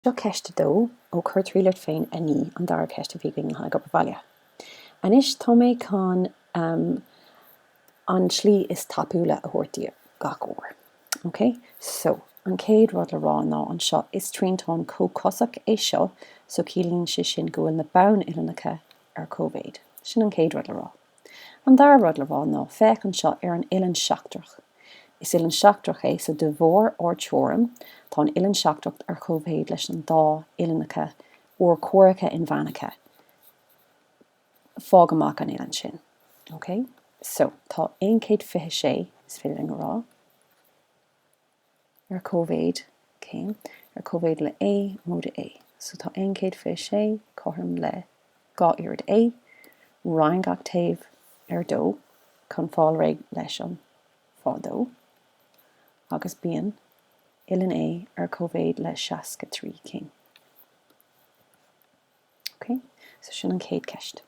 Seo ceist 2 ó Cuir triail ort féin a naoi, an dara ceist a bhí againn le haghaidh obair bhaile. Anois tá mé chun an tslí is tapúla a thabhairt daoibh gach uair. Ok? So, an chéad rud le rá ná anseo is triantán comhchosach é seo so ciallaíonn sé sin go bhfuil na bonn uillinneacha ar cóimhéid. Sin an chéad rud le rá. An dara rud le rá ná féach anseo ar an uillinn seachtrach. Is uillinn seachtrach é so de bharr ár teoirim, tá an uillinn seachtrach ar chomhmhéid leis an dá uillinneacha urchomhaireacha inmheánacha. Fág amach an uillinn sin. Ok. So, tá 126, is féidir linn a rá. ar cóimhéid, céim, ar cóimhéid le A, móide A, so tá aon chéad fiche sé cothrom le dhá oiread A, roinn gach taobh ar dó chun fáil réidh leis an faoi dó, agus bíonn uillinn A ar cóimhéid le seasca trí céim. Ok, so sin an chéad ceist.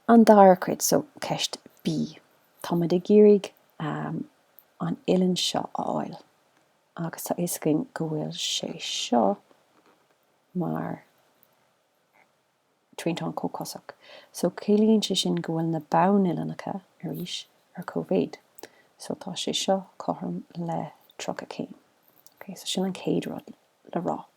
An dara cuid, so ceist B. Tá muid ag iarraidh um, an uillinn seo a fháil agus tá fhios againn go bhfuil sé seo mar triantán comhchosach. So ciallaíonn sé sin go bhfuil na bonn-uillinneacha arís ar cóimhéid. So tá sé seo cothrom le 30 céim. Ok, so sin an chéad rud le rá.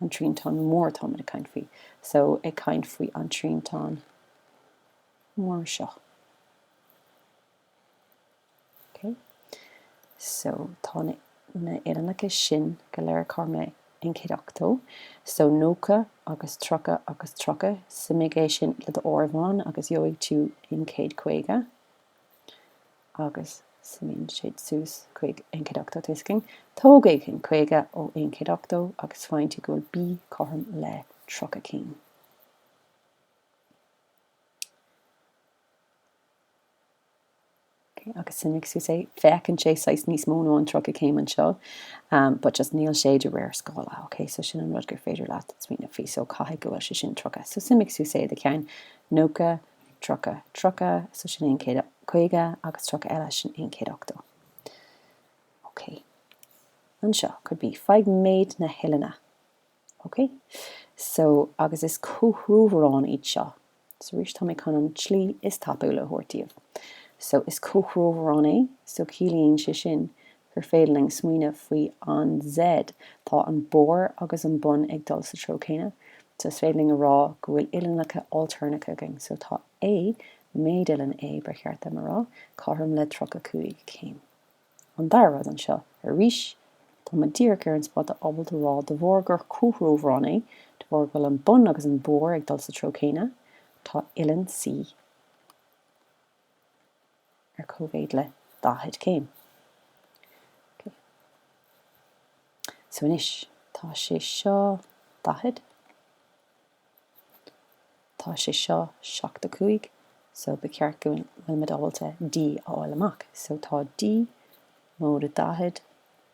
an triantán mór atá muid ag caint faoi. So, ag caint faoi an triantán mór seo. Ok? So, tá na, na uillinneacha sin go léir cothrom le aon chéad ochtó. So, 90 agus 30 agus 30. Suimigh é sin le do áireamhán agus gheobhaidh tú aon chéad caoga. agus suimíonn siad suas chuig aon chéad ochtó Toisc sin, tógaigh aon caoga ó aon chéad ochtó agus faigheann tú go bhfuil B cothrom le tríocha céim. Okay, agus suimigh suas é féachann sé saghas níos mó ná an tríocha céim anseo um, but just níl sé de réir scála. Okay, so sin an rud gur féidir leat smaoineamh faoi so caithfidh go bhfuil sé sin tríocha. So suimigh suas é i do cheann nócha 30, tríocha, so sin aon chéad caoga agus tríocha eile, sin aon chéad ochtó. Ok. Anseo, cuid B, faigh méid na huillinne. Ok? So, agus is comhthreomharáin iad seo. So, arís, tá mé chun an tslí is tapúla a thabhairt daoibh. So, is comhthreomharán é, so ciallaíonn sé sin gur féidir linn smaoineamh faoin Z, tá an barr agus an bun ag dul sa treo céanna, so is féidir linn a rá go bhfuil uillinneacha ailtéarnacha againn. So tá A, méid uillinn A, ba cheart dom a rá, cothrom le 35 céim. An dara rud anseo, arís, tá muid díreach ar an spota ábalta a rá de bharr gur comhthreomharán é, de bharr go bhfuil an bun agus an barr ag dul sa treo céanna, tá uillinn C, ar cóimhéid le 40 céim. Ok. So anois, tá sé seo 40. Tá sé seo 75. So ba cheart go bhfuil muid ábalta D a fháil amach. So tá D móide 40.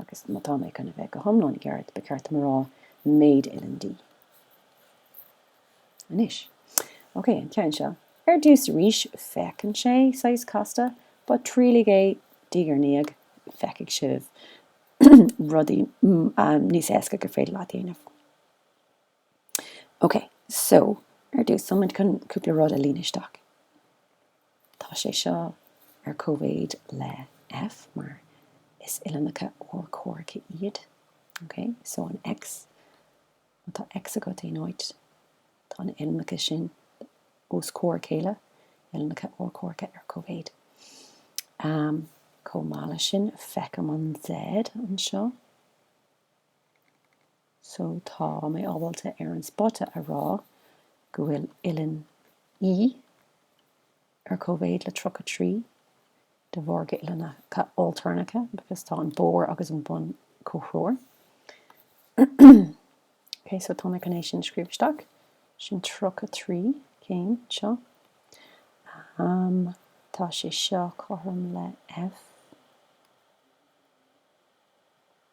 Agus má tá mé chun a bheith go hiomlán ceart, ba cheart dom a rá méid uillinn D. Anois. Ok, an ceann seo. Ar dtús arís, féachann sé saghas casta, but triail é diaidh ar ndiaidh, feicfidh sibh rudaí níos éasca gur féidir leat a dhéanamh. Okay, so ar dtús, tá muid chun cúpla rud a líonadh isteach. Tá sé seo ar cóimhéid le F mar is uillinneacha urchomhaireacha iad. Okay, so an X, má tá X agat in áit, tá na uillinneacha sin os comhair a chéile, uillinneacha urchomhaireacha ar cóimhéid. Um, chomh maith leis sin, feicim an Z anseo. So tá mé ábalta ar an spota a rá go bhfuil uillinn E ar cóimhéid le tríocha trí de bharr gur uillinneacha ailtéarnacha because tá an barr agus an bun comhthreomhar. Okay, so tá mé chun é sin a scríobh isteach. Sin tríocha trí céim seo. Um, tá sé seo cothrom le F.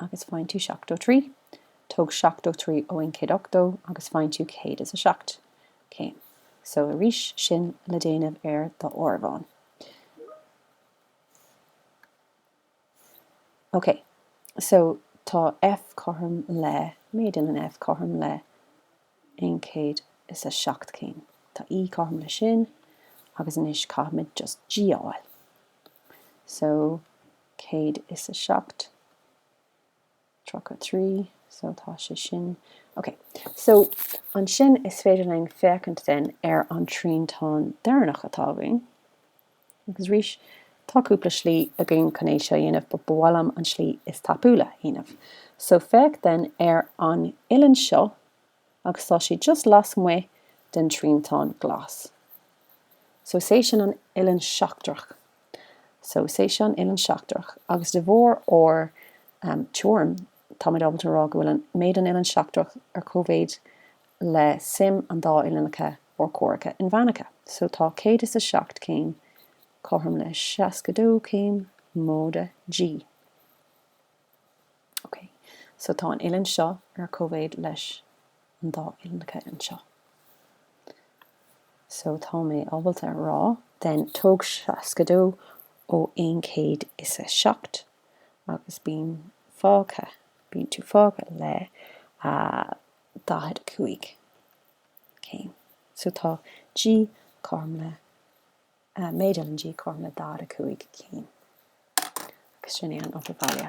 agus faigheann tú seachtó trí. Tóg seachtó trí ó aon chéad ochtó agus faigheann tú céad is a seacht. Céim. So, arís sin le déanamh ar d'áireamhán. Ok, so tá F cothrom le, méid uillinn F cothrom le aon chéad is a seacht céim. Tá E cothrom le sin, agus anois caithfimid just G a fháil. so 107, 33, so tá sé sin. Ok, so ansin is féidir linn féachaint den ar an triantán deireanach atá againn. Agus arís, tá cúpla slí againn chun é seo a dhéanamh, but ba mhaith liom an slí is tapúla a dhéanamh. So féach den ar an uillinn seo, agus tá sé just lasmuigh den triantán glas. So is é sin an uillinn sheachtrach. So is é seo an uillinn sheachtrach agus de bharr ár teoirim táimid ábalta a rá go bhfuil méid an uillinn sheachtrach ar cóimhéid le suim an dá uillinneacha urchomhaireacha inmheánacha. So tá céad is a seacht céim cothrom le seasca dó céim móide G. Ok, so tá an uillinn seo ar cóimhéid leis an dá uillinneacha anseo. So tá mé ábalta a rá then tóg 62 ó 107 agus bíonn fágtha, bíonn tú fágtha le 45 céim. So tá G, cothrom le Uh, made Ellen G. Cormac Dada Cúig Cín. Agus sin é an Opa Bhaile.